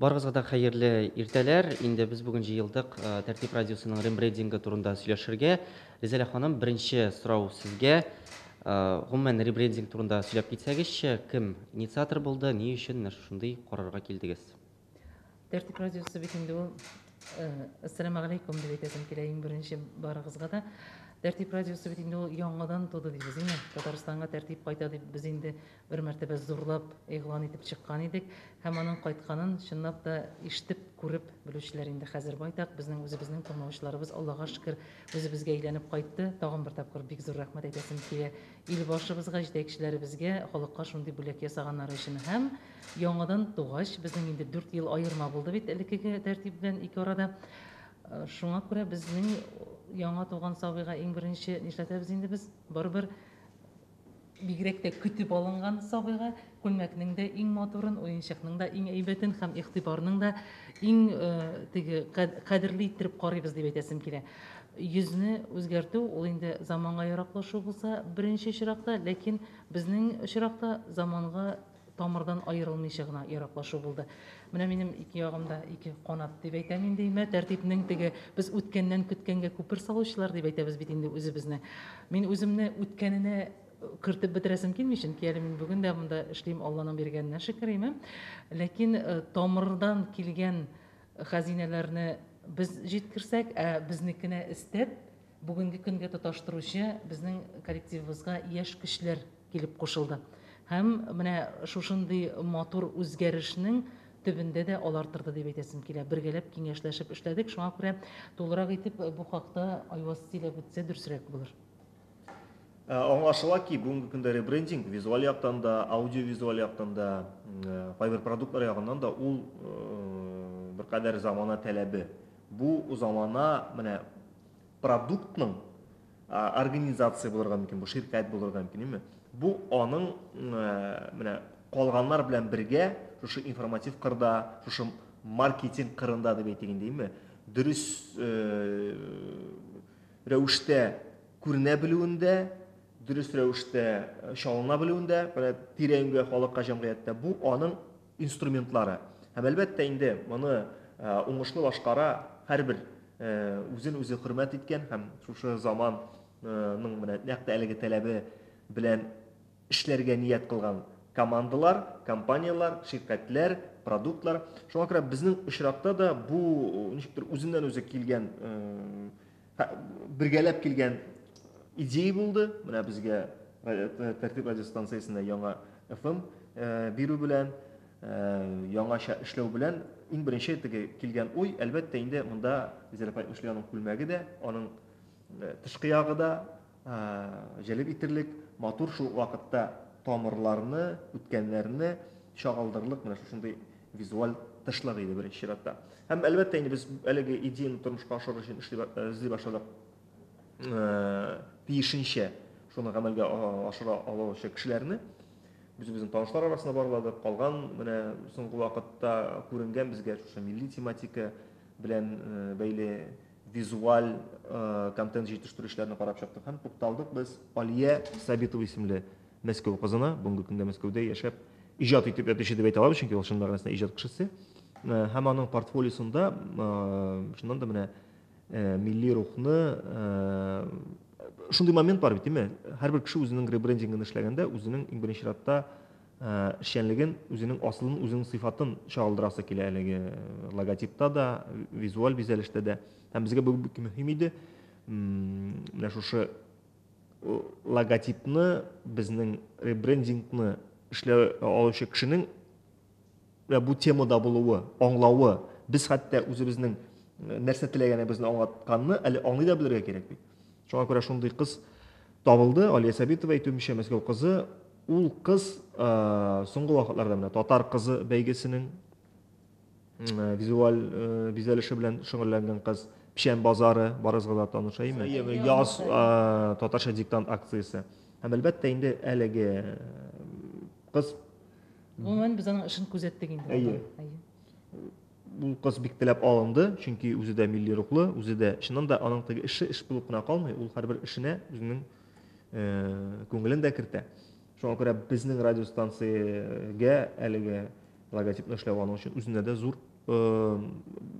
Барыгызга да хәерле иртәләр. Инде без бүген җыелдык э, Тәртип радиосының рембрендингы турында сөйләшергә. Ризәлә ханым, беренче сорау сезгә. Э, гомумән рембрендинг турында сөйләп китсәгезче, кем инициатор булды, ни өчен менә шушындый карарга килдегез? Тәртип радиосы бит инде ул э, Ассаламу алейкум дип әйтәсем килә иң беренче барыгызга да. Тәртип радиосы бит инде ул яңадан туды дибез, әйме? Татарстанга тәртип кайта дип без инде Бер мәртәбә зурлап игълан итеп чыккан идек һәм аның кайтканын чынлап та ишетеп, күреп белүчеләр инде хәзер байтак. Безнең үзебезнең тыңлаучыларыбыз, Аллага шөкер, үзебезгә әйләнеп кайтты. Тагын бер тапкыр бик зур рәхмәт әйтәсем килә илбашыбызга, җитәкчеләребезгә, халыкка шундый бүләк ясаганнары өчен. Һәм яңадан тугач, безнең инде дүрт ел аерма булды бит элеккеге тәртип белән ике арада. Э, шуңа күрә безнең яңа туган сабыйга иң беренче нишләтәбез инде без? Барыбер Бигрәк тә көтеп алынган сабыйга күлмәкнең дә иң матурын, уенчыкның да иң әйбәтен һәм игътибарның да иң э, теге кадерле иттереп карыйбыз дип әйтәсем килә. Йөзне үзгәртү ул инде заманга яраклашу булса беренче чиракта, ләкин безнең очракта заманга тамырдан аерылмыйча гына ераклашу булды. Менә минем ике ягым да ике канат дип әйтәм инде имә тәртипнең теге без үткәннән көткәнгә күпер салучылар дип әйтәбез бит инде үзебезне. Мин үземне үткәненә кертеп бетерәсем килми, чөнки әле мин бүген дә монда эшлим, Алланың биргәненә шөкер, име. Ләкин э, тамырдан килгән хәзинәләрне без җиткерсәк, ә безнекенә истәп Бүгенге көнгә тоташтыручы безнең коллективыбызга яшь көчләр килеп кушылды. Һәм менә шушындый матур үзгәрешнең төбендә дә алар торды дип әйтәсем килә. Бергәләп киңәшләшеп эшләдек, шуңа күрә тулырак итеп бу хакта Айваз сөйләп үтсә дөресрәк булыр. Ә, аңлашыла ки, бүгенге көндә ребрендинг визуаль яктан да, аудиовизуаль яктан да, ә, кайбер продуктлар ягыннан да ул ә, беркадәр замана таләбе. Бу замана менә продуктның организация булырга мөмкин, бу ширкәт булырга мөмкин, димме? Бу аның менә калганнар белән бергә шушы информатив кырда, шушы маркетинг кырында дип әйтик инде, димме? Дөрес рәвештә күренә белүендә, дөрес рәвештә чалына белүендә, менә тирә-юньгә халыкка, җәмгыятькә бу аның инструментлары. Һәм, әлбәттә инде, моны уңышлы башкара һәрбер үзен-үзе хөрмәт иткән һәм шушы заман ның менә нәкъ тә әлеге таләбе белән эшләргә ният кылган командалар, компанияләр, ширкәтләр, продуктлар. Шуңа күрә безнең очракта да бу ничектер үзеннән-үзе килгән бергәләп килгән идея булды. Менә безгә Тәртип радиостанциясенә яңа FM бирү белән, яңача эшләү белән иң беренче теге килгән уй, әлбәттә, инде монда Зәләф Әйтмешли аның күлмәге дә, аның тышкы ягы да, җәлеп итерлек, матур, шул ук вакытта тамырларны, үткәннәрне чагылдырырлык менә шушындый визуаль тышлык иде беренче чиратта. Һәм әлбәттә инде без әлеге идеяны тормышка ашырыр өчен эшли эзли башладык. Тиешенчә шуны гамәлгә ашыра алучы кешеләрне үзебезнең танышлар арасында барладык. Калган менә соңгы вакытта күренгән безгә шушы милли тематика белән бәйле визуаль контент җитештерүчеләрне карап чыктык һәм тукталдык без Алия Сабитова исемле Мәскәү кызына, бүгенге көндә Мәскәүдә яшәп, иҗат итеп ятучы дип әйтә алабыз, чөнки ул чын мәгънәсендә иҗат кешесе. Һәм аның портфолиосында чыннан да менә милли рухны шундый момент бар бит, димме? Һәрбер кеше үзенең ребрендингын эшләгәндә, үзенең иң беренче чиратта эшчәнлеген, үзенең асылын, үзенең сыйфатын чагылдырасы килә әлеге логотипта да, визуаль бизәлештә дә. Һәм безгә бу бик мөһим иде. Менә шушы логотипны, безнең ребрендингны эшләү алучы кешенең Вә бу темада булуы, аңлавы, без хәтта үзебезнең э, нәрсә теләгәнебезне аңлатканны әле аңлый да белергә кирәк бит. Шуңа күрә шундый кыз табылды, Алия Сәбитова әйтүемчә, Мәскәү кызы. Ул кыз э, соңгы вакытларда менә татар кызы бәйгесенең э, визуаль бизәлеше белән шөгыльләнгән кыз, Печән базары, барыгызга да таныш әйме? Яз татарча диктант акциясе. Һәм әлбәттә инде әлеге кыз Гомумән без аның эшен күзәттек инде. Әйе. Ул кыз бик теләп алынды, чөнки үзе дә милли рухлы, үзе дә чыннан да аның теге эше эш булып кына калмый, ул һәрбер эшенә үзенең э, күңелен дә кертә. Шуңа күрә безнең радиостанциягә әлеге логотипны эшләү аның өчен үзенә дә зур э,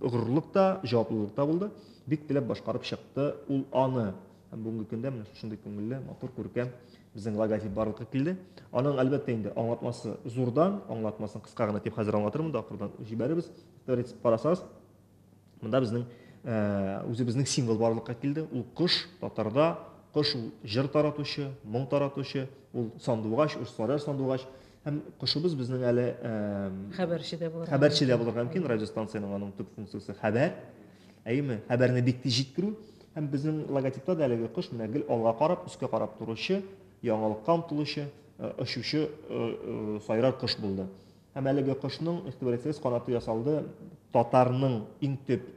горурлык та, җаваплылык та булды. Бик теләп башкарып чыкты ул аны. Һәм бүгенге көндә менә шушындый күңелле, матур, күркәм Безнең логотип барлыкка килде. Аның, әлбәттә, инде аңлатмасы зурдан, аңлатмасын кыска гына дип хәзер аңлатырмын да, акырдан җибәрербез. Тәрис парасас. Монда безнең үзебезнең символ барлыкка килде. Ул кош, татарда кош ул җыр таратучы, моң таратучы, ул сандугач, урысларда сандугач. Һәм кошыбыз безнең әле хәбәрче дә булырга хәбәрче дә булырга мөмкин. Радиостанциянең аның төп функциясе хәбәр. Әйеме? Хәбәрне бик тиз җиткерү. Һәм безнең логотипта да әлеге кош менә гел алга карап, өскә карап торучы, яңалыкка омтылучы, очучы сайрар кош булды. Һәм әлеге кошның, игътибар итсәгез, канаты ясалды татарның иң төп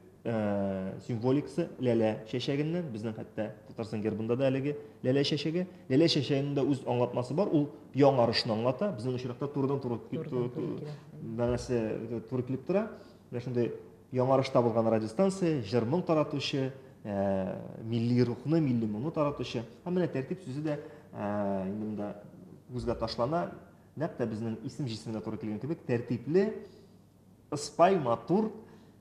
символикасы ләлә чәчәгеннән. Безнең хәтта Татарстан гербында да әлеге ләлә чәчәге. Ләлә чәчәгенең дә үз аңлатмасы бар. Ул яңарышны аңлата. Безнең очракта турыдан-туры мәгънәсе туры килеп тора. Менә шундый Яңарыш табылган радиостанция, җыр-моң таратучы, ә, милли рухны, милли моңны таратучы. Һәм менә тәртип сүзе дә ә, инде монда күзгә ташлана. Нәкъ тә безнең исем җисеменә туры килгән кебек, тәртипле, ыспай, матур,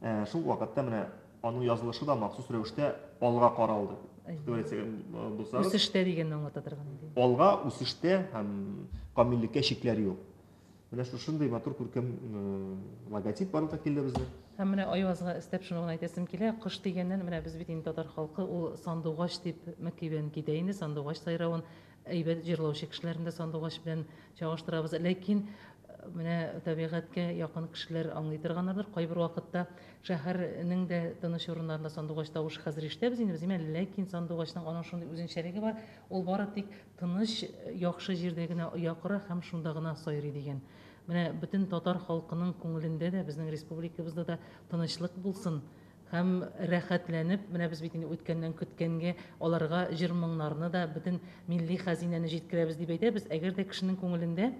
ә, шул вакытта менә аның язылышы да махсус рәвештә алга каралды. Үсештә дигәнне аңлата торган иде. Алга, үсештә һәм камиллеккә чикләр юк. Менә шушындый матур күркәм логотип барлыкка килде безнең. Һәм менә Айвазга өстәп шуны гына әйтәсем килә, кош дигәннән, менә без бит инде татар халкы, ул сандугач дип мәки белән китә инде, сандугач сайравын әйбәт җырлаучы кешеләрне дә сандугач белән чагыштырабыз. Ләкин менә табигатькә якын кешеләр аңлый торганнардыр, кайбер вакытта шәһәрнең дә тыныч урыннарында сандугач тавышы хәзер ишетәбез инде без, димә, ләкин сандугачның аның шундый үзенчәлеге бар, ул бары тик Тыныч, яхшы җирдә генә оя кора һәм шунда гына сайрый, дигән. Менә бөтен татар халкының күңелендә дә, безнең республикабызда да тынычлык булсын һәм рәхәтләнеп, менә без бит инде үткәннән көткәнгә аларга җыр-моңнарны да, бөтен милли хәзинәне җиткерәбез дип әйтәбез. Әгәр дә кешенең күңелендә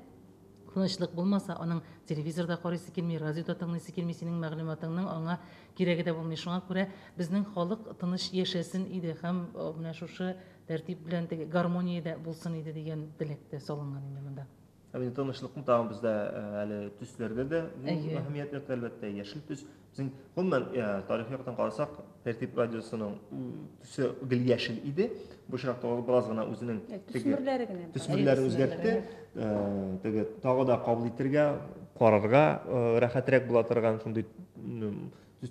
тынычлык булмаса, аның телевизор да карыйсы килми, радио да тыңлыйсы килми, синең мәгълүматыңның аңа кирәге дә булмый. Шуңа күрә безнең халык тыныч яшәсен иде һәм менә шушы Тәртип белән теге гармониядә булсын иде дигән теләк тә салынган инде монда. Ә менә тынычлыкны тагын бездә э, әле төсләрдә дә зур әһәмият йөртә, әлбәттә, яшел төс. Безнең гомумән э, тарихи яктан карасак, Тәртип радиосының төсе гел яшел иде. Бу очракта ул бераз гына үзенең э, төсмерләре генә төсмерләрен үзгәртте. Теге тагы да кабул итергә, карарга рәхәтрәк була торган шундый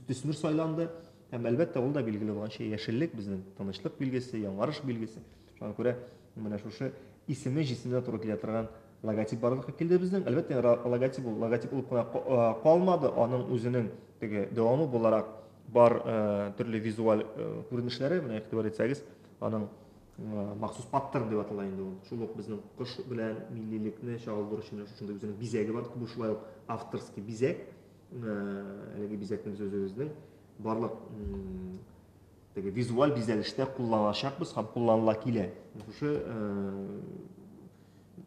төсмер сайланды. Һәм, әлбәттә, ул да билгеле булганча, яшеллек, безнең тынычлык билгесе, яңарыш билгесе. Шуңа күрә менә шушы исеме, җисеменә туры килә торган логотип барлыкка килде безнең. Әлбәттә, логотип ул логотип булып кына э, калмады, аның үзенең теге дәвамы буларак бар э, төрле визуаль э, күренешләре, менә игътибар итсәгез, аның махсус паттерн дип атала инде ул. Шул ук безнең кош белән миллилекне чагылдыручы менә шушындый үзенең бизәге бар, бу шулай ук авторский бизәк. әлеге бизәкне без үзебезнең барлык теге визуаль бизәлештә кулланачакбыз һәм кулланыла килә. Шушы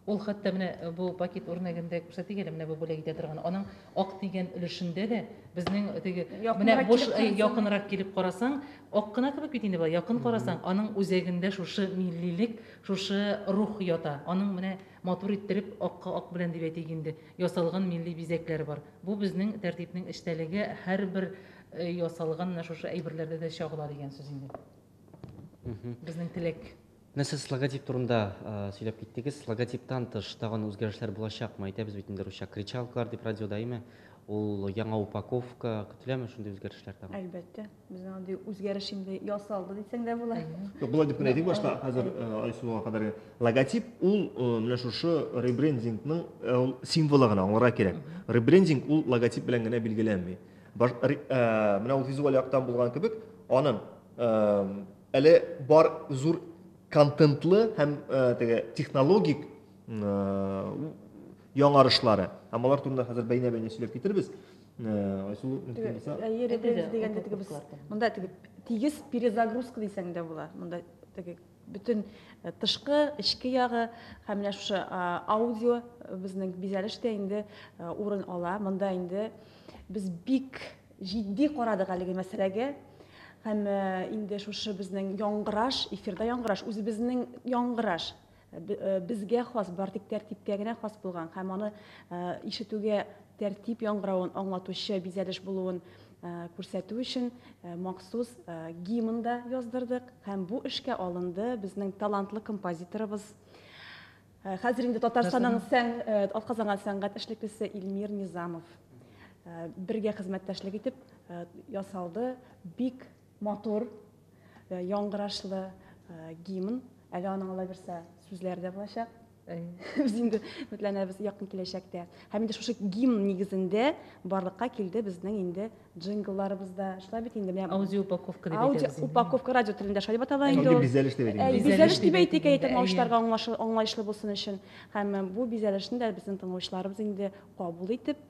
Ул хәтта менә э, бу пакет үрнәгендә күрсәтик әле, менә бу бүләк итә торган. Аның ак дигән өлешендә дә безнең теге менә буш э, якынрак килеп карасаң, ак кына кебек бит инде бу. Якын карасаң, аның үзәгендә шушы миллилек, шушы рух ята. Аның менә Матур иттереп, акка ак белән дип әйтик инде, ясалган милли бизәкләр бар. Бу безнең тәртипнең эчтәлеге, һәрбер ясалган менә шушы әйберләрдә дә чагыла дигән сүз инде. Безнең теләк. Менә сез логотип турында сөйләп киттегез. Логотиптан тыш тагын үзгәрешләр булачакмы? Әйтәбез бит инде русча кричалкалар дип радиода, әйме? Ул яңа упаковка, көтеләме шундый үзгәрешләр тагын? Әлбәттә. Безнең андый үзгәреш инде ясалды дисәң дә була. Юк, болай дип кенә әйтик башта, хәзер э, Айсулуга кадәр логотип ул э, менә шушы ребрендингның э, ул символы гына аңларга кирәк. Ребрендинг ул логотип белән генә билгеләнми. Баш, ре, ә, менә ул визуаль яктан булган кебек, аның ә, әле бар зур контентлы һәм ә, теге технологик ә, яңарышлары. Һәм алар турында хәзер бәйнә-бәйнә сөйләп китербез. Айсу, мөмкин булса. Йөрегез дигәндә теге без монда теге тигез перезагрузка дисәң дә була. Монда теге бөтен э, тышкы, эчке ягы һәм менә шушы аудио э, безнең бизәлеш тә инде э, урын ала. Монда инде без бик җитди карадык әлеге мәсьәләгә һәм инде шушы безнең яңгыраш, эфирда яңгыраш, үзебезнең яңгыраш Безгә хас, бар тик тәртипкә генә хас булган һәм аны ишетүгә тәртип яңгыравын аңлатучы бизәлеш булуын күрсәтү өчен махсус гимн да яздырдык һәм бу эшкә алынды безнең талантлы композиторыбыз, хәзер инде Татарстанның атказанган сәнгать эшлеклесе Илмир Низамов. Бергә хезмәттәшлек итеп ясалды, бик Матур, яңгырашлы гимн. Әле аның алай берсә сүзләре дә булачак. Без инде өметләнәбез якын киләчәктә. Һәм инде шушы гимн нигезендә барлыкка килде безнең инде джинглларыбыз да. Шулай бит инде. Аудио упаковка дип әйтәбез. Аудио упаковка радио телендә шулай дип атала инде. Инде бизәлеш дип әйтик. Бизәлеш дип әйтик, әйе, тыңлаучыларга аңлаешлы булсын өчен. Һәм бу бизәлешне дә безнең тыңлаучыларыбыз инде кабул итеп,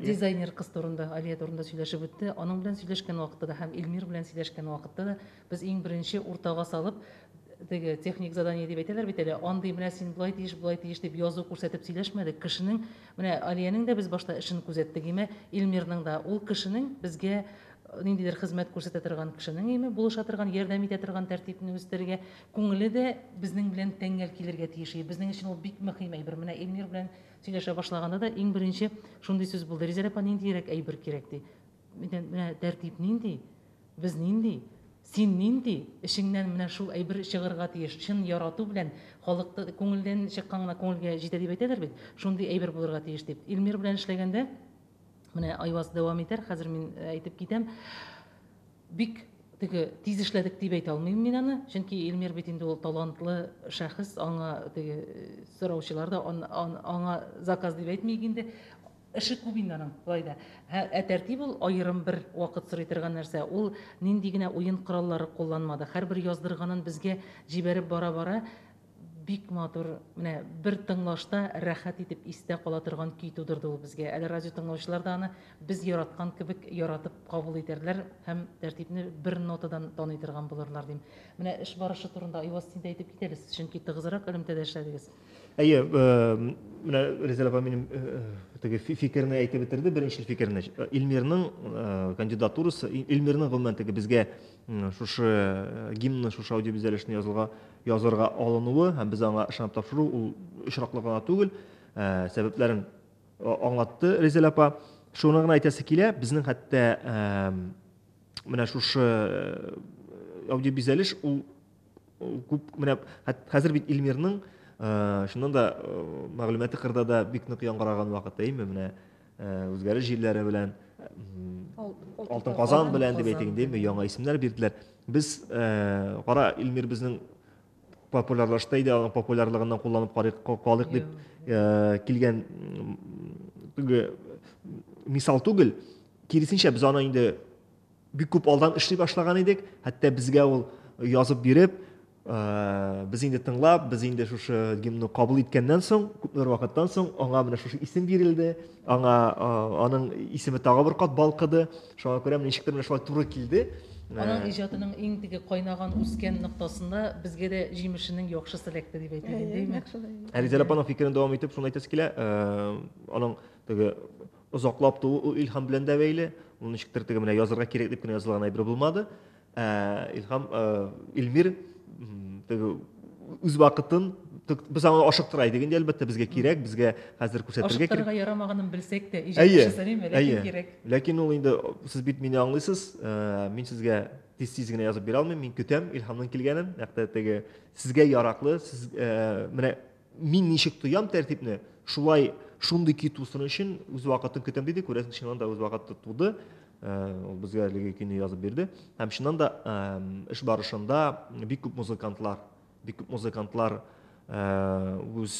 Дизайнер кыз турында, Алия турында сөйләшеп үтте. Аның белән сөйләшкән вакытта да һәм Илмир белән сөйләшкән вакытта да без иң беренче уртага салып, теге техник задание дип әйтәләр бит әле, андый менә син болай тиеш, болай тиеш дип язу күрсәтеп сөйләшмәдек. Кешенең, менә Алиянең дә без башта эшен күзәттек, име Илмирның да. Ул кешенең безгә ниндидер хезмәт күрсәтә торган кешенең, име булыша торган, ярдәм итә торган тәртипне үстерергә, күңеле дә безнең белән тәңгәл килергә тиеш. Безнең өчен ул бик мөһим әйбер. Менә Илмир белән Сөйләшә башлаганда да иң беренче шундый сүз булды, Ризәр апа, ниндиерәк әйбер кирәк, ди. Миннән менә тәртип нинди, без нинди, син нинди, эчеңнән менә шул әйбер чыгырга тиеш, чын ярату белән, халыкта күңелдән чыккан гына күңелгә җитә дип әйтәләр бит, шундый әйбер булырга тиеш, дип. Илмир белән эшләгәндә, менә Айваз дәвам итәр, хәзер мин әйтеп китәм, Бик теге тиз эшләдек дип әйтә алмыйм мин аны, чөнки Илмир бит инде ул талантлы шәхес, аңа теге сораучылар да аңа заказ дип әйтмик инде. Эше күп инде аның, болай да. Ә тәртип ул аерым бер вакыт сорый торган нәрсә. Ул нинди генә уен кораллары кулланмады. Һәрбер яздырганын безгә җибәреп бара-бара, Бик матур, менә бер тыңлашта рәхәт итеп истә кала торган көй тудырды ул безгә. Әле радио тыңлаучылар да аны без яраткан кебек яратып кабул итәрләр һәм тәртипне бер нотадан таный торган булырлар дим. Менә эш барышы турында Айваз син дә әйтеп кит әле, сез чөнки тыгызрак элемтәдә эшләдегез. Әйе, менә Резель апа минем теге фикерне әйтеп бетерде, беренчел фикерне. Илмирның кандидатурасы, Илмирның гомумән теге безгә шушы э, гимнны шушы аудиобизәлешне язылга язырга алынуы һәм без аңа ышанып тапшыру ул очраклы гына түгел э, сәбәпләрен э, аңлатты резель апа шуны гына әйтәсе килә безнең хәтта менә шушы аудиобизәлеш ул күп менә хәзер бит илмирның чыннан да мәгълүматы кырда да бик нык яңгыраган вакыты әйме менә үзгәре җирләре белән алтын казан белән дип әйтик инде яңа исемнәр бирделәр без кара илмир безнең популярлашты иде аның популярлыгыннан кулланып карыйк калыйк дип килгән теге мисал түгел киресенчә без аны инде бик күп алдан эшли башлаган идек хәтта безгә ул язып биреп Без инде тыңлап, без инде шушы гимнны кабул иткәннән соң, күпмедер вакыттан соң, аңа менә шушы исем бирелде, аңа аның исеме тагы бер кат балкыды. Шуңа күрә ничектер менә шулай туры килде. Аның иҗатының иң теге кайнаган үскән ноктасында безгә дә җимешенең яхшы селәкте дип әйтә инде, әйме? Әлизә апаның фикерен дәвам итеп, шуны әйтәсе килә, аның теге озаклап туу ул илһам белән дә бәйле, ул ничектер теге менә язырга кирәк дип кенә язылган әйбер булмады. Ә, Илһам, ә, Илмир теге үз вакытын без аны ашыктыра идек инде әлбәттә безгә кирәк безгә хәзер күрсәтергә кирәк ашыктырырга ярамаганын белсәк тә ләкин кирәк ләкин ул инде сез бит мине аңлыйсыз э, мин сезгә тиз тиз генә язып бирә алмыйм мин көтәм илһамның килгәнен нәкъ теге сезгә яраклы сез э, менә Мин ничек тоям тәртипне, шулай шундый көй тусын өчен үз вакытын көтәм диде, күрәсең, чыннан да үз вакыты туды. Ул безгә әлеге көйне язып бирде. Һәм чыннан да эш барышында бик күп музыкантлар, бик күп музыкантлар үз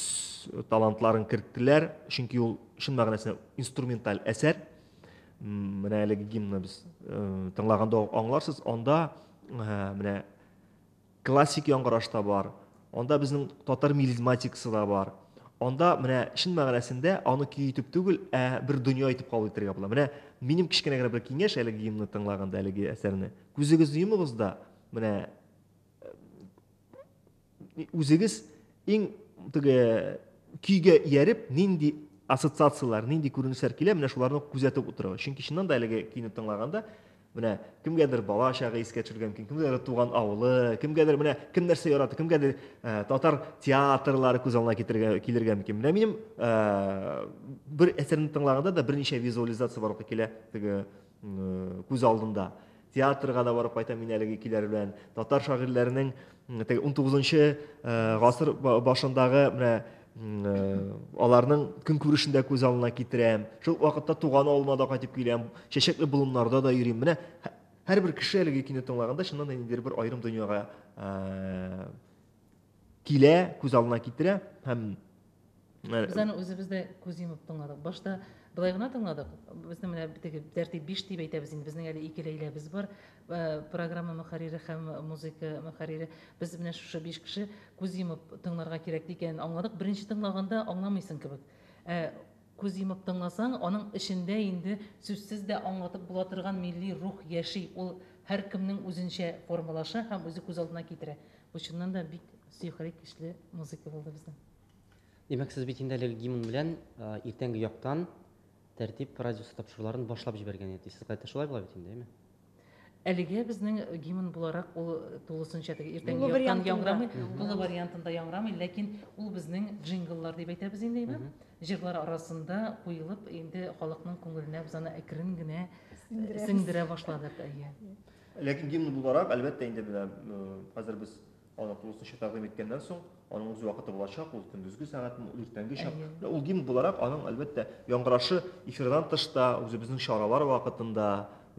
талантларын керттеләр, чөнки ул чын мәгънәсендә инструменталь әсәр. Менә әлеге гимнны без тыңлаганда аңларсыз, анда менә Классик яңгыраш та бар, анда безнең татар мелизматикасы да бар. Анда менә чын мәгънәсендә аны көй итеп түгел, ә бер дөнья итеп кабул итәргә була. Менә минем кечкенә генә бер киңәш әлеге гимнны тыңлаганда, әлеге әсәрне. Күзегезне йомыгыз да, менә үзегез иң теге көйгә ияреп, нинди ассоциацияләр, нинди күренешләр килә, менә шуларны күзәтеп утырыгыз. Чөнки чыннан да әлеге көйне тыңлаганда, Менә кемгәдер бала чагы искә төшергән мөмкин, кемгәдер туган авылы, кемгәдер менә кем нәрсә ярата, кемгәдер ә, татар театрлары күз алдына китергә килергә мөмкин. Менә минем ә, бер әсәрне тыңлаганда да берничә визуализация барлыкка килә теге күз алдында. Театрга да барып кайтам мин әлеге килер белән. Татар шагыйрьләренең Теге 19-нчы гасыр башындагы менә аларның көнкүрешен дә күз алдына китерәм. Шул вакытта туган авылыма да кайтып киләм, чәчәкле болыннарда да йөрим. Менә һәрбер кеше әлеге кино тыңлаганда чыннан да ниндидер бер аерым дөньяга килә, күз алдына китерә һәм Без аны үзебез дә күз йомып тыңладык. Башта былай гына тыңладык. Безнең менә теге тәртип 5 дип әйтәбез инде. Безнең әле ике Ләйләбез бар. Э, программа мөхәррире һәм музыка мөхәррире. Без менә шушы 5 кеше күз йомып тыңларга кирәк дигәнен аңладык. Беренче тыңлаганда аңламыйсың кебек. Ә күз йомып тыңласаң, аның эчендә инде сүзсез дә аңлатып була торган милли рух яши. Ул һәркемнең үзенчә формалаша һәм үзе күз алдына китерә. Бу чыннан да бик сөйкерек, көчле музыка булды безнең. Димәк, сез бит инде әлеге гимн белән иртәнге яктан тәртип радиосы тапшыруларын башлап җибәргән идегез. Сез кайтта шулай була бит инде, әйме? Әлегә безнең гимн буларак ул тулысынча теге иртәнге яктан яңрамый, тулы вариантында яңрамый, ләкин ул безнең джингллар дип әйтәбез инде, әйме? Җырлар арасында куелып, инде халыкның күңеленә без аны әкрен генә сеңдерә башладык, әйе. Ләкин гимн буларак, әлбәттә, инде менә хәзер без Аны тулысынча тәкъдим иткәннән соң, аның үз вакыты булачак, ул көндезге сәгатьме, ул иртәнге чак. Әйе. Ул гимн буларак аның, әлбәттә, яңгырашы эфирдан тыш та, үзебезнең чаралар вакытында,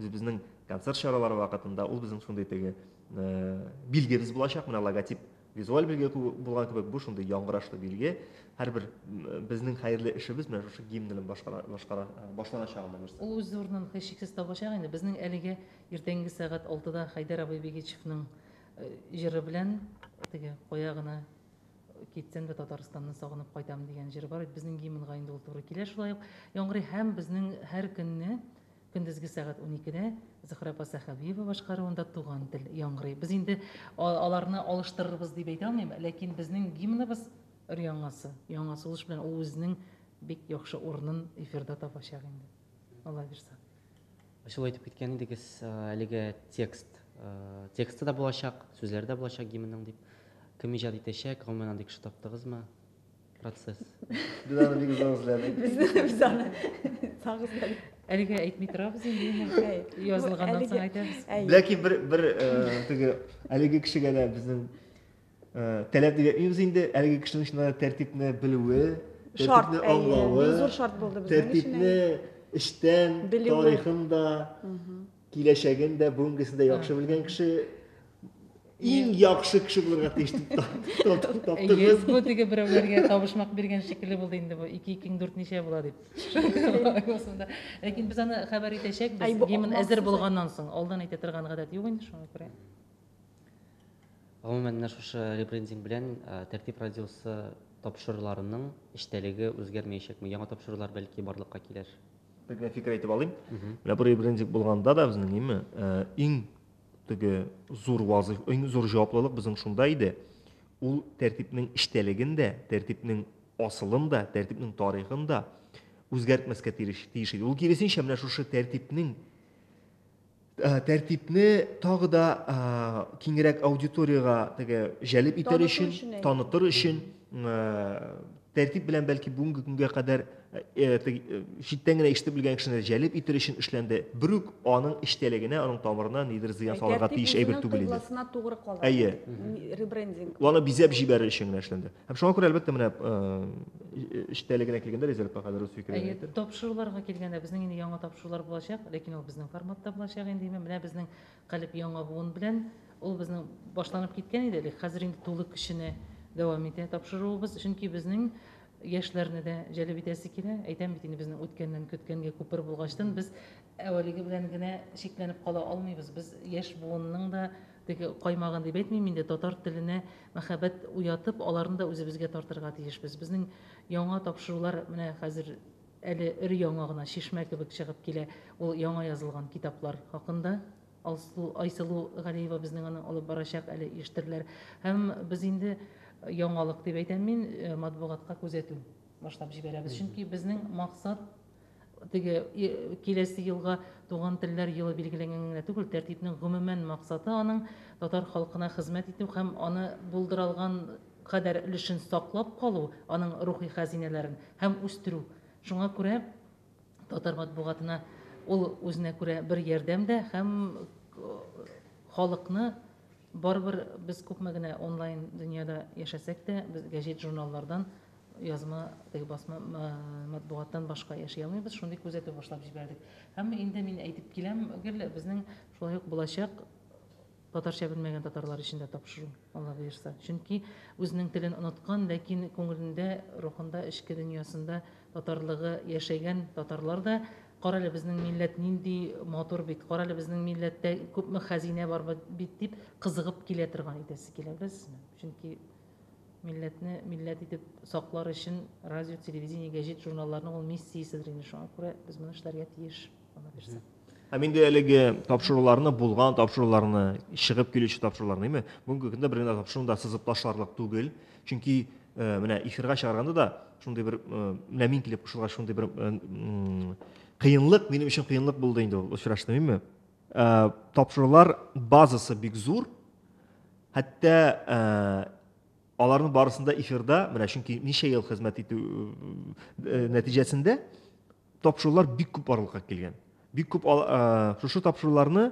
үзебезнең концерт чаралары вакытында ул безнең шундый теге э, билгебез булачак, менә логотип визуаль билге булган кебек, бу шундый яңгырашлы билге. Һәрбер э, безнең хәерле эшебез менә шушы гимн белән башкара, башкара, э, башланачак анда нәрсә. Ул үз урынын һичшиксез табачак инде. Безнең әлегә иртәнге сәгать 6да Хәйдәр абый Бигичевның Җыры белән теге кая гына китсәң дә Татарстанны сагынып кайтам дигән җыры бар. Безнең гимнга инде ул туры килә. Шулай ук яңгырый һәм безнең һәр көнне көндезге сәгать 12-дә Зөхрә апа Сәхәбиева башкаруында Туган тел яңгырый. Без инде аларны алыштырырбыз дип әйтә алмыйм, ләкин безнең гимныбыз өр-яңасы, яңа сулыш белән ул үзенең бик яхшы урынын эфирда табачак инде. Алла бирса. Сез әйтеп киткән идегез, әлеге текст, тексты да булачак, сүзләре дә булачак гимнның дип. Кем иҗат итәчәк, гомумән андый кеше таптыгызмы? Процесс. Без аны бик озак эзләдек. Без аны сак эзләдек. Әлегә әйтми торабыз инде. Язылганнан соң әйтәбез. Ләкин бер бер теге әлеге кешегә дә безнең Таләп дигән үз инде әлеге кешенең чыннан да тәртипне белүе, тәртипне аңлавы, зур шарт булды безнең тәртипне эчтән тарихын да, киләчәген дә, бүгенгесен дә яхшы белгән кеше иң яхшы кеше булырга тиеш дип таптым. Йөз бу теге берәүләргә табышмак биргән шикелле булды инде бу. Ике икең дүрт ничә була дип. Ләкин без аны хәбәр итәчәкбез. Гимн әзер булганнан соң, алдан әйтә торган гадәт юк инде шуңа күрә. Гомумән, менә шушы ребрендинг белән Тәртип радиосы тапшыруларының эчтәлеге үзгәрмәячәкме? Яңа тапшырулар, бәлки, барлыкка килер? Бер генә фикер әйтеп алыйм. Менә бу ребрендинг булганда да безнең ниме, иң теге зур вазыйф, иң зур җаваплылык безнең шунда иде. Ул тәртипнең эчтәлеген дә, тәртипнең асылын да, тәртипнең тарихын да үзгәртмәскә тиеш иде. Ул киресенчә, менә шушы тәртипнең Э, тәртипне тагы да э, киңрәк аудиторияга теге җәлеп итәр өчен танытыр өчен э, тәртип белән бәлки бүгенге көнгә кадәр читтән генә ишетеп белгән кешене җәлеп итер өчен эшләнде бер үк аның эчтәлегенә аның тамырына нидер зыян салырга тиеш әйбер түгел иде әйе ребрендинг аны бизәп җибәрер өчен генә эшләнде Һәм шуңа күрә, әлбәттә, менә эчтәлегенә килгәндә резервка хәзер үз фикерен әйтер. Тапшыруларга килгәндә, безнең инде яңа тапшырулар булачак, ләкин ул безнең форматта булачак инде. Менә безнең Калеб яңа буын белән ул безнең башланып киткән иде әле, хәзер инде тулы көченә дәвам итә тапшыруыбыз, чөнки безнең яшьләрне дә җәлеп итәсе килә. Әйтәм бит инде, безнең үткәннән көткәнгә күпер булгачтын, без әвәлеге белән генә чикләнеп кала алмыйбыз. Без яшь буынның да Теге каймагын дип әйтмим инде, татар теленә мәхәббәт уятып, аларны да үзебезгә тартырга тиешбез. Безнең яңа тапшырулар менә хәзер әле өр-яңа гына чишмә кебек чыгып килә, ул яңа язылган китаплар хакында. Алсу, Айсылу Галиева безнең аны алып барачак, әле иештерләр. Һәм без инде яңалык дип әйтәм мин, матбугатка күзәтү башлап җибәрәбез. Чөнки безнең максат Теге киләсе елга Туган телләр елы билгеләнгән генә түгел, тәртипнең гомумән максаты аның татар халкына хезмәт итү һәм аны булдыралган кадәр өлешен саклап калу, аның рухи хәзинәләрен, һәм үстерү. Шуңа күрә татар матбугатына ул үзенә күрә бер ярдәм дә һәм халыкны, Барыбер без күпме генә онлайн дөньяда яшәсәк тә, без гәҗит-журналлардан, язма, теге басма матбугаттан башка яши алмыйбыз, шундый күзәтү башлап җибәрдек. Һәм инде мин әйтеп киләм гел, безнең шулай ук булачак татарча белмәгән татарлар өчен дә тапшыру, Алла боерса. Чөнки үзенең телен оныткан, ләкин күңелендә, рухында, эчке дөньясында татарлыгы яшәгән татарлар да Карале, безнең милләт нинди матур бит, карале, безнең милләттә күпме хәзинә бар бит, дип кызыгып килә торган итәсе килә, беләсезме? Чөнки милләтне милләт итеп саклар өчен радио, телевидение, гәҗит, журналларның ул миссияседер инде. Шуңа күрә без моны эшләргә тиеш, ана бирсә. Һәм инде әлеге тапшыруларны, булган тапшыруларны, чыгып килүче тапшыруларны, әйме, бүгенге көндә бер генә тапшыруны да сызып ташларлык түгел. Чөнки менә эфирга чыгарганда да шундый бер менә мин килеп кушылгач шундый бер кыенлык минем өчен кыенлык булды инде ул очрашты мин тапшырулар базасы бик зур хәтта аларның барысында эфирда менә чөнки ничә ел хезмәт итү нәтиҗәсендә Тапшырулар бик күп барлыкка килгән. Бик күп шушы тапшыруларны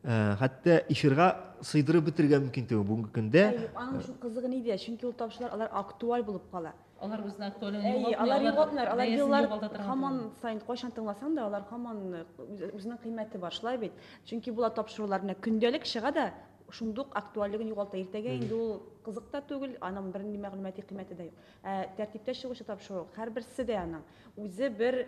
Э, хәтта эфирга сыйдырып бетергә мөмкин түгел бүгенге көндә аның өчен кызыгы нидә чөнки ул тапшырулар алар актуаль булып кала алар үзен актуальны алар югалтмыйлар алар еллар һаман сайын кайчан тыңласаң да алар һаман э, үзенең кыйммәте бар шулай бит чөнки болар тапшырулар менә көндәлек чыга да шундук актуальлеген югалта иртәгә инде ул кызык та түгел аның бернинди мәгълүмати кыйммәте дә юк ә тәртиптә чыгучы тапшыру һәрберсе дә аның Үзе бер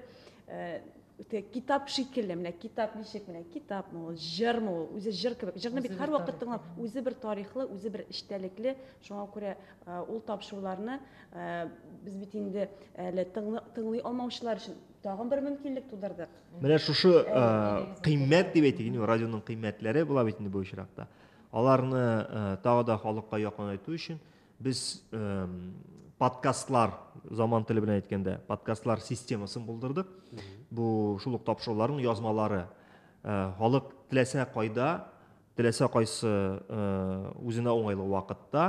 үтә китап шикелле, менә китап ничек, менә китапмы ул, җырмы ул, үзе җыр кебек. Җырны бит һәрвакыт тыңлап, үзе бер тарихлы, үзе бер эчтәлекле. Шуңа күрә ул тапшыруларны без бит инде әле тыңлый алмаучылар өчен тагын бер мөмкинлек тудырдык. Менә шушы кыйммәт дип әйтик, инде радионың кыйммәтләре була бит инде бу очракта. Аларны тагы да халыкка якынайту өчен Без подкастлар, заман теле белән әйткәндә, подкастлар системасын булдырдык. Бу шул ук тапшыруларның язмалары. Халык теләсә кайда, теләсә кайсы үзенә уңайлы вакытта,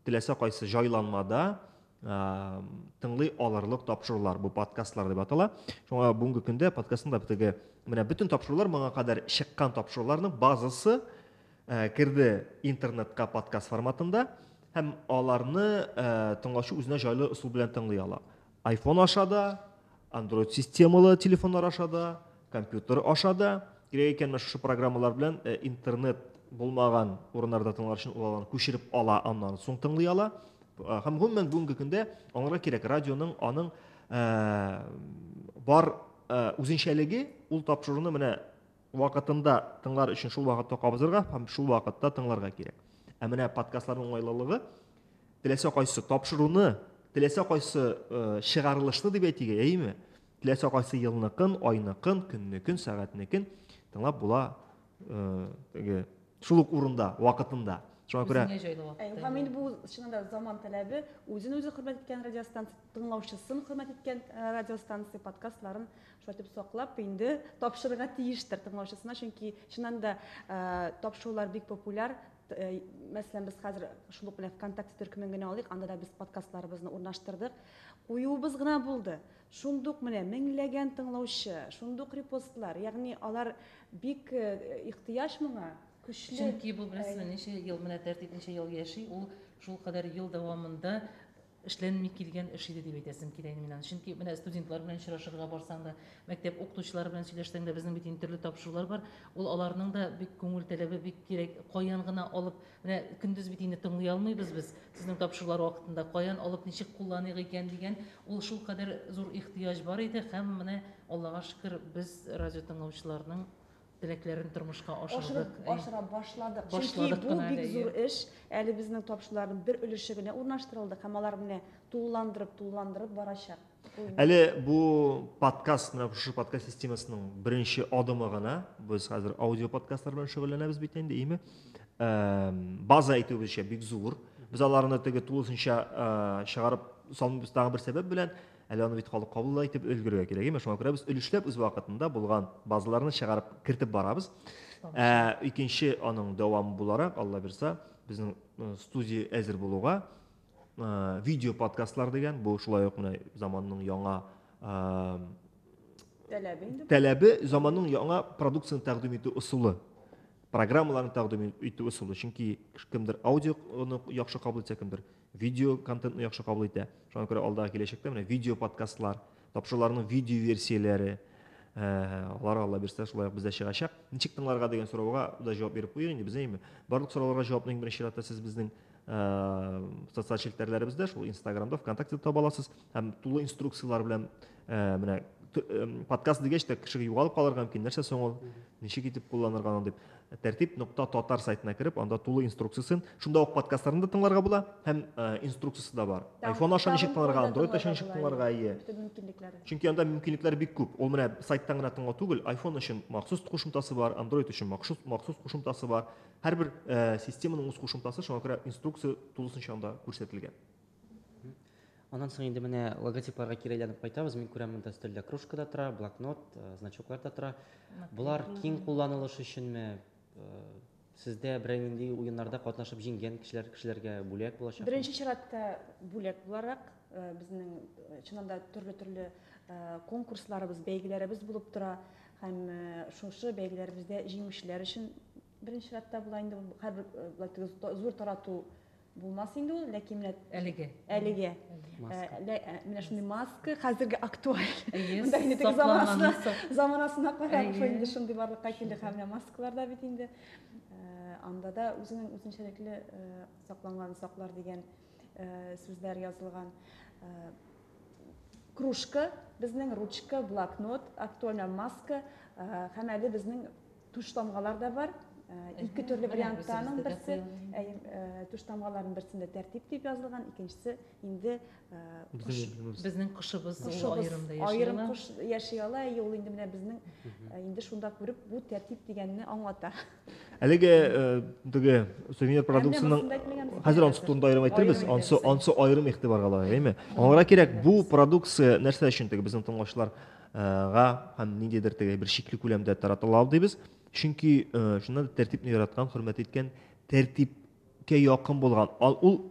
теләсә кайсы җайланмада тыңлый алырлык тапшырулар бу подкастлар дип атала шуңа бүгенге көндә подкастында теге менә бөтен тапшырулар моңа кадәр чыккан тапшыруларның базасы Э, керде интернетка подкаст форматында һәм аларны э, тыңлаучы үзенә җайлы ысул белән тыңлый ала айфон аша да андроид системалы телефоннар аша да компьютер аша да кирәк икән менә шушы программалар белән э, интернет булмаган урыннарда тыңлар өчен ул аларны күчереп ала аннан соң тыңлый ала һәм гомумән бүгенге көндә аңарга кирәк радионың аның бар үзенчәлеге ул тапшыруны менә Вакытында тыңлар өчен шул вакытта кабызырга һәм шул вакытта тыңларга кирәк. Ә менә подкастларның уңайлылыгы теләсә кайсы тапшыруны, теләсә кайсы э, чыгарылышны дип әйтик, әйеме? Теләсә кайсы елныкын, айныкын, көннекен, сәгатьнекен тыңлап була э, теге шул ук урында, вакытында. Шуңа күрә Үзеңә җайлы вакытта. Ә, Һәм инде бу чынында заман таләбе үзен үзе хөрмәт иткән радиостанция, тыңлаучысын хөрмәт иткән э, радиостанция подкастларын Шулай итеп саклап инде тапшырырга тиештер тыңлаучысына, чөнки чыннан да тапшырулар бик популяр. Мәсәлән, без хәзер шул ук белән ВКонтакте төркемен генә алыйк, анда да без подкастларыбызны урнаштырдык. Куюыбыз гына булды. Шундук менә меңләгән тыңлаучы, шундук репостлар, ягъни алар бик ихтыяҗ моңа, көчле. Чөнки бу, беләсезме, ничә ел, менә тәртип ничә ел яши, ул шулкадәр ел дәвамында эшләнми килгән эш иде дип әйтәсем килә инде мин аны. Чөнки менә студентлар белән очрашырга барсаң да, мәктәп укытучылары белән сөйләшсәң дә, безнең бит инде төрле тапшырулар бар. Ул аларның да бик күңел таләбе, бик кирәк. Каян гына алып, менә көндез бит инде тыңлый алмыйбыз без сезнең тапшырулар вакытында, каян алып, ничек кулланыйк икән дигән ул шулкадәр зур ихтыяҗ бар иде һәм менә, Аллага шөкер, без радиотыңлаучыларның Теләкләрен тормышка ашырдык. Ашыра башладык. Чөнки бу бик зур эш. Әле безнең тапшыруларның бер өлеше генә урнаштырылды һәм алар менә тулыландырып, тулыландырып барачак. Әле бу подкаст, менә шушы подкаст системасының беренче адымы гына. Без хәзер аудио подкастлар белән шөгыльләнәбез бит инде, име? База әйтүебезчә бик зур. Без аларны теге тулысынча чыгарып салмыйбыз тагы бер сәбәп белән. Әле аны бит халык кабул да итеп өлгерергә кирәк, әйме? Шуңа күрә без өлешләп үз вакытында булган базаларны чыгарып кертеп барабыз. Ә икенче аның дәвамы буларак, Алла бирса, безнең э, студия әзер булуга э, видео подкастлар дигән, бу шулай ук менә заманның яңа э, таләбе инде. Таләбе заманның яңа продукцияне тәкъдим итү ысулы программаларын тәкъдим итү ысулы чөнки кемдер аудионы яхшы кабул итә кемдер Видео контентны яхшы кабул итә. Шуңа күрә алдагы киләчәктә менә видео подкастлар, тапшыруларның видео версияләре, алар алла бирсә шулай ук бездә чыгачак. Ничек тыңларга дигән сорауга да җавап биреп куйыйк инде без, әйеме? Барлык сорауларга җавапны иң беренче чиратта сез безнең социаль челтәрләребездә, шул Инстаграмда, ВКонтактеда таба аласыз. Һәм тулы инструкцияләр белән менә подкаст дигәч тә кеше югалып калырга мөмкин нәрсә соң ул ничек итеп кулланырга аны дип тәртип нокта татар сайтына кереп анда тулы инструкциясен шунда ук подкастларын да тыңларга була һәм инструкциясе дә бар айфон аша ничек тыңларга андроид аша ничек тыңларга ие чөнки анда мөмкинлекләр бик күп ул менә сайттан гына тыңлау түгел айфон өчен махсус кушымтасы бар андроид өчен махсус махсус кушымтасы бар һәрбер системаның үз кушымтасы шуңа күрә инструкция тулысынча анда күрсәтелгән Аннан соң инде менә логотипларга кире әйләнеп кайтабыз. Мин күрәм, монда өстәлдә кружка да тора, блокнот, э, значоклар да тора. Болар киң кулланылыш өченме? Э, сездә берәр нинди уеннарда катнашып җиңгән кешеләр кешеләргә бүләк булачак? Беренче чиратта бүләк буларак э, безнең э, чыннан да төрле-төрле конкурсларыбыз, бәйгеләребез булып тора һәм шушы бәйгеләребездә җиңүчеләр өчен беренче чиратта була инде һәрбер зур тарату Булмас инде ул, ләкин менә әлеге. Әлеге. Маска. Менә шундый маска хәзерге актуаль. Монда инде тик заманасына, заманасына карап шул инде шундый барлыкка килде һәм менә маскалар да бит инде. Анда да үзенең үзенчәлекле сакланган саклар дигән сүзләр язылган. Кружка, безнең ручка, блокнот, актуаль маска һәм әле безнең Туштамгалар да бар. Ике төрле вариантта аның берсе. Туштамгаларның берсендә тәртип дип язылган, икенчесе инде безнең кошыбыз аерымда яши. Аерым кош яши ала, и ул инде менә безнең инде шунда күреп бу тәртип дигәнне аңлата. Әлеге теге сувенир продукцияның хәзер ансы турында аерым әйтербез, ансы ансы аерым игътибарга лаек, әйме? Аңара кирәк бу продукция нәрсә өчен теге безнең тыңлаучылар га һәм ниндидер теге бер чикле күләмдә таратыла ул дибез. Чөнки шунда да тәртипне яраткан, хөрмәт иткән, тәртипкә якын булган. Ул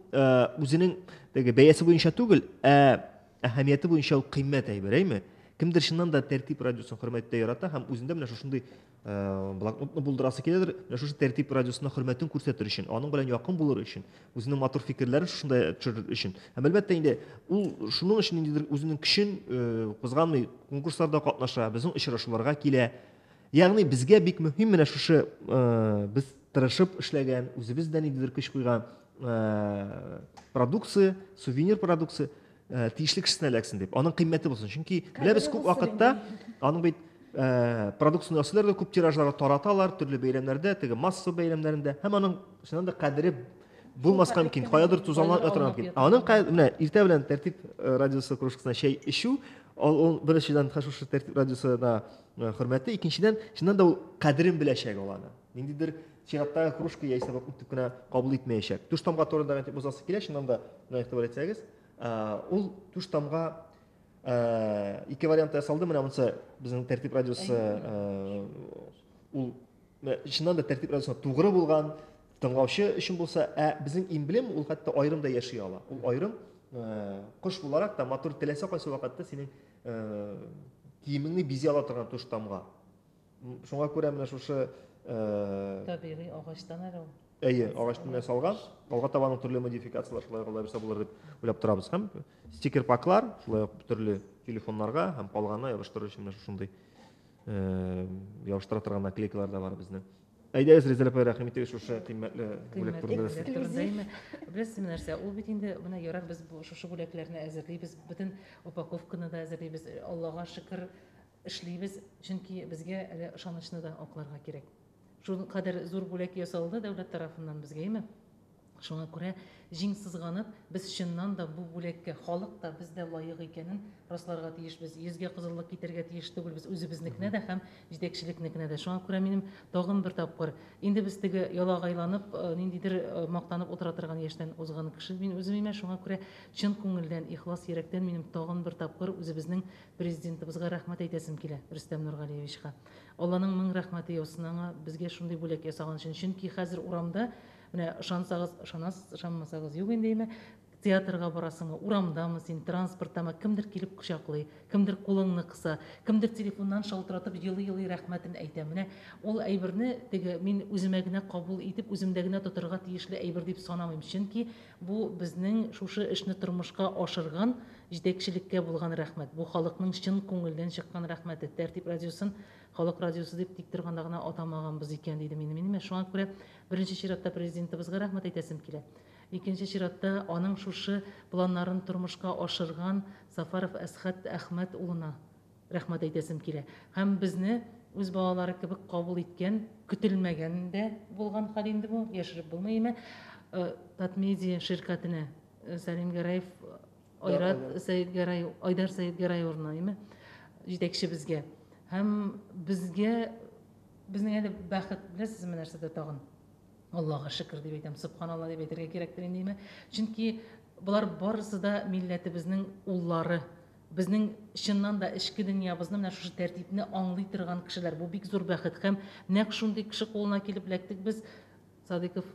үзенең теге бәясе буенча түгел, ә әһәмияте буенча ул кыйммәт әйбер, әйме? Кемдер чыннан да тәртип радиосын хөрмәттә ярата һәм үзендә менә шушындый Э, блокнотны булдырасы киләдер менә шушы тәртип радиосына хөрмәтен күрсәтер өчен аның белән якын булыр өчен үзенең матур фикерләрен шушында төшерер өчен һәм әлбәттә инде ул шуның өчен ниндидер үзенең көчен э, кузганмый конкурсларда катнаша безнең очрашуларга килә ягъни безгә бик мөһим менә шушы э, без тырышып эшләгән үзебез дә ниндидер көч куйган продукция сувенир продукция Э, тиешле кешесенә эләксен дип аның кыйммәте булсын чөнки беләбез күп вакытта аның бит э, продукцияне ясыйлар да күп тиражларда тараталар төрле бәйрәмнәрдә теге масса бәйрәмнәрендә һәм аның чыннан да кадере булмаска мөмкин каядыр тузанланып ятырга мөмкин аның менә иртә белән тәртип э, радиосы кружкасына чәй эчү ул беренчедән шушы тәртип радиосына хөрмәте икенчедән чыннан да ул кадерен беләчәк ул аны Ниндидер чираттагы кружка яисә бакын итеп кенә кабул итмәячәк. Туш тамга турында гына әйтеп узасы килә, чыннан да, менә игътибар итсәгез, ул туш тамга ике вариантта ясалды, менә монысы безнең тәртип радиосы ул чыннан да тәртип радиосына тугры булган тыңлаучы өчен булса, ә безнең эмблем ул хәтта аерым да яши ала. Ул аерым кош буларак та матур теләсә кайсы вакытта синең киемеңне бизи ала торган туш тамга. Шуңа күрә менә шушы э, табигый агачтан әле ул. Әйе, агачтан ясалган. Алга таба аның төрле модификацияләр шулай ук лабирса булыр дип уйлап торабыз. Һәм стикер паклар, шулай ук төрле телефоннарга һәм калганы ябыштыру өчен менә шушындый э, ябыштыра торган наклейкалар да бар безнең. Әйдәгез, Резеля апай, рәхим итегез шушы кыйммәтле бүләк турында нәрсә. Беләсез менә нәрсә, ул бит инде менә ярар без шушы бүләкләрне әзерлибез, бөтен упаковканы да әзерлибез. Аллага шөкер, Эшлибез, чөнки безгә әле ышанычны да акларга кирәк. Шул кадәр зур бүләк ясалды дәүләт тарафыннан безгә, әйме? Шуңа күрә, җиң сызганып, без чыннан да бу бүләккә халык та, без дә лаек икәнен расларга тиешбез. Йөзгә кызыллык китәргә тиеш түгелбез үзебезнекенә дә һәм җитәкчелекнекенә дә. Шуңа күрә минем тагын бер тапкыр, инде без теге ялагайланып, ниндидер мактанып утыра торган яшьтән узган кеше мин үзем, әйме? Шуңа күрә чын күңелдән, ихлас йөрәктән минем тагын бер тапкыр үзебезнең Президентыбызга рәхмәт әйтәсем килә, Рөстәм Нургалиевичка. Алланың мең рәхмәте яусын аңа, безгә шундый бүләк ясаган өчен. Чөнки хәзер урамда, менә ышансагыз, ышанасыз, ышанмасагыз, юк инде яме, театрга барасыңмы, урамдамы син, транспорттамы, кемдер килеп кочаклый, кемдер кулыңны кыса, кемдер телефоннан шалтыратып елый-елый рәхмәтен әйтә. Менә ул әйберне теге мин үземә генә кабул итеп, үземдә генә тотырга тиешле әйбер дип санамыйм. Чөнки Бу безнең шушы эшне тормышка ашырган җитәкчелеккә булган рәхмәт. Бу халыкның чын күңелдән чыккан рәхмәте. Тәртип радиосын Халык радиосы дип тик торганда гына атамаганбыз икән, дидем инде мин. Менә шуңа күрә беренче чиратта Президентыбызга рәхмәт әйтәсем килә. Икенче чиратта аның шушы планнарын тормышка ашырган Сафаров Әсхәт Әхмәт улына. Рәхмәт әйтәсем килә. Һәм безне үз балалары кебек кабул иткән, көтелмәгән дә булган хәл инде бу, яшереп булмый име. Э, Татмедиа ширкәтенә э, Сәлим Гәрәев, Айрат Сәетгәрәев, Айдар Сәетгәрәев урынына име, җитәкчебезгә. Һәм безгә, безнең әле бәхет, беләсезме нәрсәдә тагын? Аллага шөкер дип әйтәм, субханалла дип әйтергә кирәктер инде име. Чөнки болар барысы да милләтебезнең уллары. Безнең чыннан да эчке дөньябызны менә шушы тәртипне аңлый торган кешеләр. Бу бик зур бәхет һәм нәкъ шундый кеше кулына килеп эләктек без, Садыйков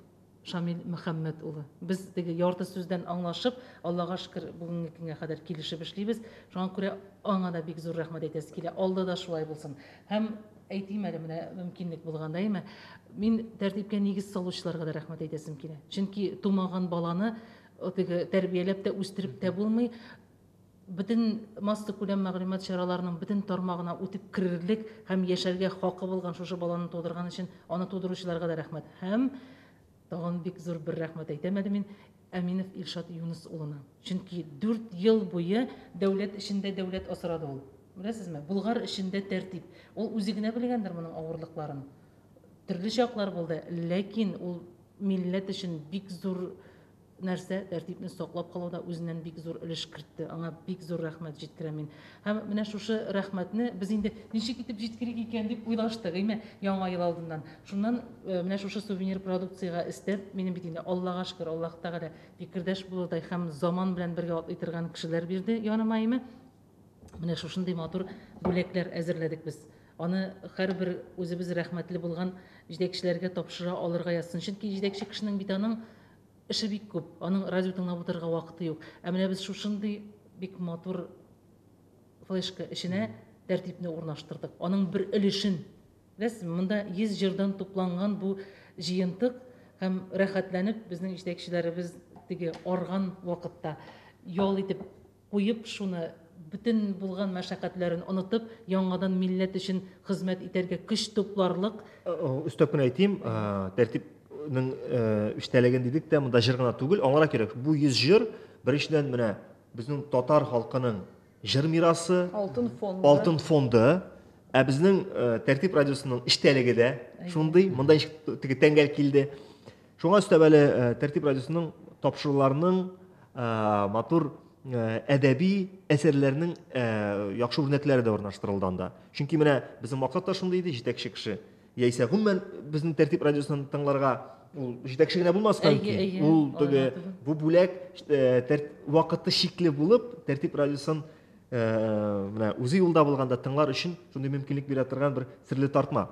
Шамил Мөхәммәт улы. Без теге ярты сүздән аңлашып, Аллага шөкер, бүгенге көнгә кадәр килешеп эшлибез. Шуңа күрә аңа да бик зур рәхмәт әйтәсе килә. Алда да шулай булсын. Һәм әйтим әле менә мөмкинлек булганда, әйме? Мин тәртипкә нигез салучыларга да рәхмәт әйтәсем килә. Чөнки тумаган баланы теге тәрбияләп тә, үстереп тә булмый. бөтен массакүләм мәгълүмат чараларының бөтен тармагына үтеп керерлек һәм яшәргә хакы булган шушы баланы тудырган өчен аны тудыручыларга да рәхмәт һәм тагын бик зур бер рәхмәт әйтәм әле мин Әминов Илшат Юныс улына. Чөнки дүрт ел буе дәүләт эчендә дәүләт асрады ул. Беләсезме? Болгар эчендә тәртип. Ул үзе генә белгәндер моның авырлыкларын. Төрле чаклар булды, ләкин ул милләт өчен бик зур нәрсә, тәртипне саклап калуда үзеннән бик зур өлеш кертте. Аңа бик зур рәхмәт җиткерәм мин. Һәм менә шушы рәхмәтне без инде ничек итеп җиткерик икән дип уйлаштык, әйме, Яңа ел алдыннан. Шуннан э, менә шушы сувенир продукциягә өстәп, минем бит инде Аллага шөкер, Аллаһ Тәгалә фикердәш булырдай һәм заман белән бергә атлый торган кешеләр бирде яныма, әйме. Менә шушындый матур бүләкләр әзерләдек без. Аны һәрбер үзебез рәхмәтле булган җитәкчеләргә тапшыра алырга язсын. Чөнки җитәкче кешенең бит аның Эше бик күп, аның радио тыңлап утырырга вакыты юк. Ә менә без шушындый бик матур флешка эченә тәртипне урнаштырдык. Аның бер өлешен. Без монда 100 җырдан тупланган бу җыентык һәм рәхәтләнеп безнең җитәкчеләребез теге арган вакытта ял итеп куеп, шуны, бөтен булган мәшәкатьләрен онытып, яңадан милләт өчен хезмәт итәргә көч тупларлык. Өстәп кенә әйтим, тәртипнең эчтәлеген дидек тә, монда җыр гына түгел, аңара кирәк. Бу 100 җыр, беренчедән, менә безнең татар халкының җыр мирасы, алтын фонды, алтын фонды. Ә безнең тәртип радиосының эчтәлеге дә шундый, монда теге тәңгәл килде. Шуңа өстәп әле Тәртип радиосының тапшыруларының матур әдәби әсәрләрнең яхшы үрнәкләре дә урнаштырылды анда. Чөнки менә безнең максат та шундый иде, җитәкче кеше. Яисә гомумән безнең Тәртип радиосын тыңларга ул җитәкче генә булмаска мөмкин. Ул теге бу бүләк вакыты чикле булып, Тәртип радиосын менә үзе юлда булганда тыңлар өчен шундый мөмкинлек бирә торган бер серле тартма.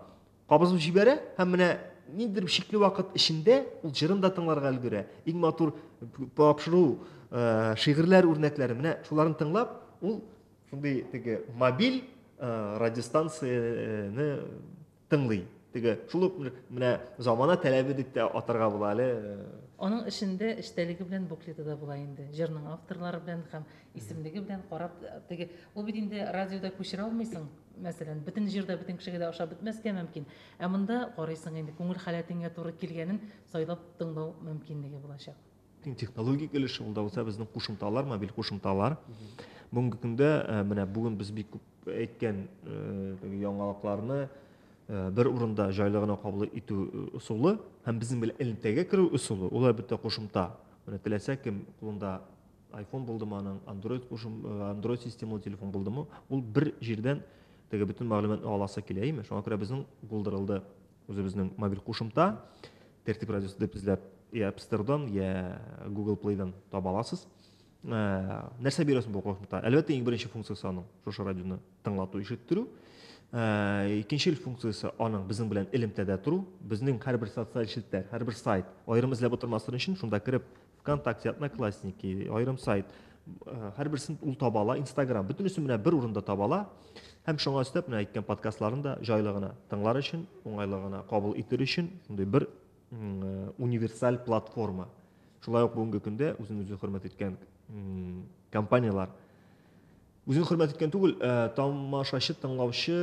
Кабызып җибәрә һәм менә ниндидер бер чикле вакыт эчендә ул җырын да тыңларга өлгерә. Иң матур тапшыру э, шигырьләр үрнәкләре менә шуларын тыңлап, ул шундый теге мобиль э, радиостанцияне тыңлый. Теге шул ук менә замана таләбе дип тә атарга була әле. Аның эшендә эчтәлеге белән буклеты да була инде. Җырның авторлары белән һәм исемлеге белән карап теге ул бит инде радиода күчерә алмыйсың. Мәсәлән, бөтен җир дә бөтен кешегә дә ошап бетмәскә мөмкин, ә монда карыйсың инде күңел халәтеңә туры килгәнен сайлап тыңлау мөмкинлеге булачак. Иң технологик өлеше ул да булса безнең кушымталар, мобиль кушымталар. Бүгенге көндә э, менә бүген без бик күп әйткән э, яңалыкларны Э, бер урында жайлы гына кабул итү э, ысулы һәм безнең белән элемтәгә керү ысулы ул әлбәттә кушымта менә теләсә кем кулында Айфон булдымы аның, андроид кушым, андроид системалы телефон булдымы, ул бер җирдән теге бөтен мәгълүматны аласы килә, әйме? Шуңа күрә безнең булдырылды үзебезнең мобиль кушымта, тәртип радиосы дип эзләп, я App Store-дан, я Google Play-дан таба аласыз. Ә, нәрсә бирәсең бу кушымта? Әлбәттә, иң беренче функциясе аның шушы радионы тыңлату, ишеттерү. Ә, икенче функциясе аның безнең белән элемтәдә тору, безнең һәрбер социаль челтәр, һәрбер сайт, аерым эзләп утырмасын өчен шунда кереп Вконтакте, Одноклассники, аерым сайт, э, һәрберсен ул таба ала, Инстаграм, бөтенесе менә бер урында таба ала. Һәм шуңа өстәп менә әйткән подкастларын да җайлы гына тыңлар өчен, уңайлы гына кабул итер өчен шундый бер э, универсаль платформа. Шулай ук бүгенге көндә үзен үзе хөрмәт иткән компанияләр Үзен хөрмәт иткән түгел, э, тамашачы, тыңлаучы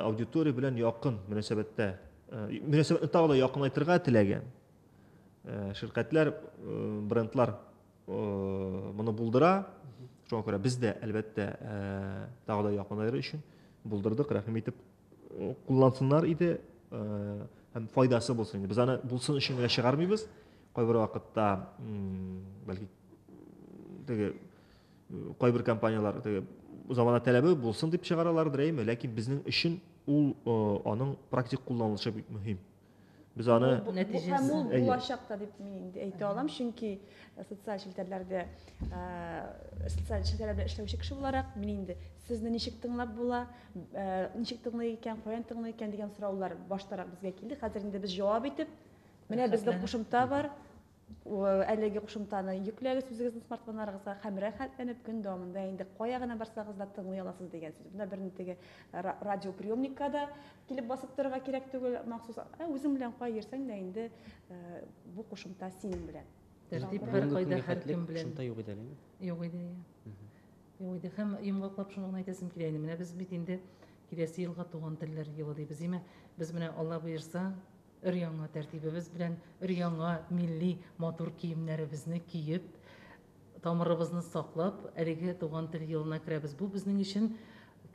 аудитория белән якын мөнәсәбәттә. Мөнәсәбәтне тагы да якынайтырга теләгән Ширкәтләр, брендлар моны булдыра. Шуңа күрә без дә, әлбәттә, тагы да якынайыр өчен булдырдык, рәхим итеп куллансыннар иде һәм файдасы булсын иде. Без аны булсын өчен генә чыгармыйбыз. Кайбер вакытта, бәлки, теге кайбер компанияләр теге замана таләбе булсын дип чыгаралар, дөрәйме, ләкин безнең өчен ул аның практик кулланылышы бик мөһим. Без аны Бу һәм ул Әйе. булачак та дип мин инде әйтә алам, чөнки э, социаль челтәрләрдә э, социаль челтәрләр белән эшләүче кеше буларак мин инде сезне ничек тыңлап була, э, ничек тыңлый икән, каян тыңлый икән дигән сораулар баштарак безгә килде. Хәзер инде без җавап итеп, менә бездә Рәхәтләнеп. кушымта бар, Әлеге кушымтаны йөкләгез үзегезнең смартфоннарыгызга һәм рәхәтләнеп көн дәвамында инде кая гына барсагыз да тыңлый аласыз дигән сүз. Монда берни теге радиоприемникка да килеп басып торырга кирәк түгел, махсус. Ә үзең белән кая йөрсәң дә инде бу кушымта синең белән. Тәртип һәркайда һәркем белән. Кушымта юк иде әле. Юк иде, ия. Юк иде. Һәм йомгаклап шуны гына әйтәсем килә инде. Менә без бит инде киләсе елга Туган телләр елы дибез, димә. Без менә Алла боерса, Өр-яңа тәртибебез белән, өр-яңа милли матур киемнәребезне киеп, тамырыбызны саклап, әлеге Туган тел елына керәбез. Бу безнең өчен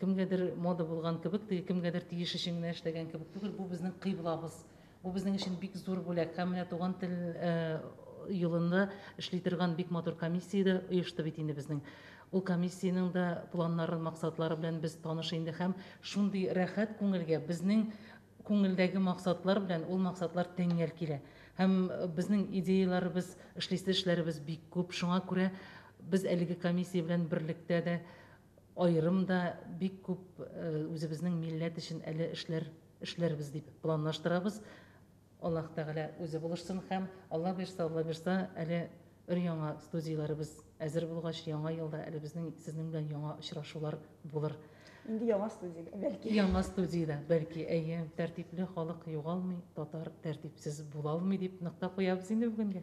кемгәдер мода булган кебек, теге кемгәдер тиеш өчен генә эшләгән кебек түгел, бу безнең кыйблабыз. Бу безнең өчен бик зур бүләк. Һәм менә Туган тел елында эшли торган бик матур комиссия дә оешты бит инде безнең. Ул комиссиянең дә планнары, максатлары белән без таныш инде һәм шундый рәхәт күңелгә безнең Күңелдәге максатлар белән ул максатлар тәңгәл килә. Һәм безнең идеяләребез, эшлисе эшләребез бик күп. Шуңа күрә без әлеге комиссия белән берлектә дә, аерым да бик күп үзебезнең милләт өчен әле эшләр эшләрбез дип планлаштырабыз. Аллаһ Тәгалә үзе булышсын һәм, Алла бирса, Алла бирса, әле Өр-яңа студияләребез әзер булгач, яңа елда әле безнең сезнең белән яңа очрашулар булыр. Инде яңа студиядә, бәлки. Яңа студиядә, бәлки, әйе. Тәртипле халык югалмый, татар тәртипсез булалмый, дип нокта куябыз инде бүгенгә.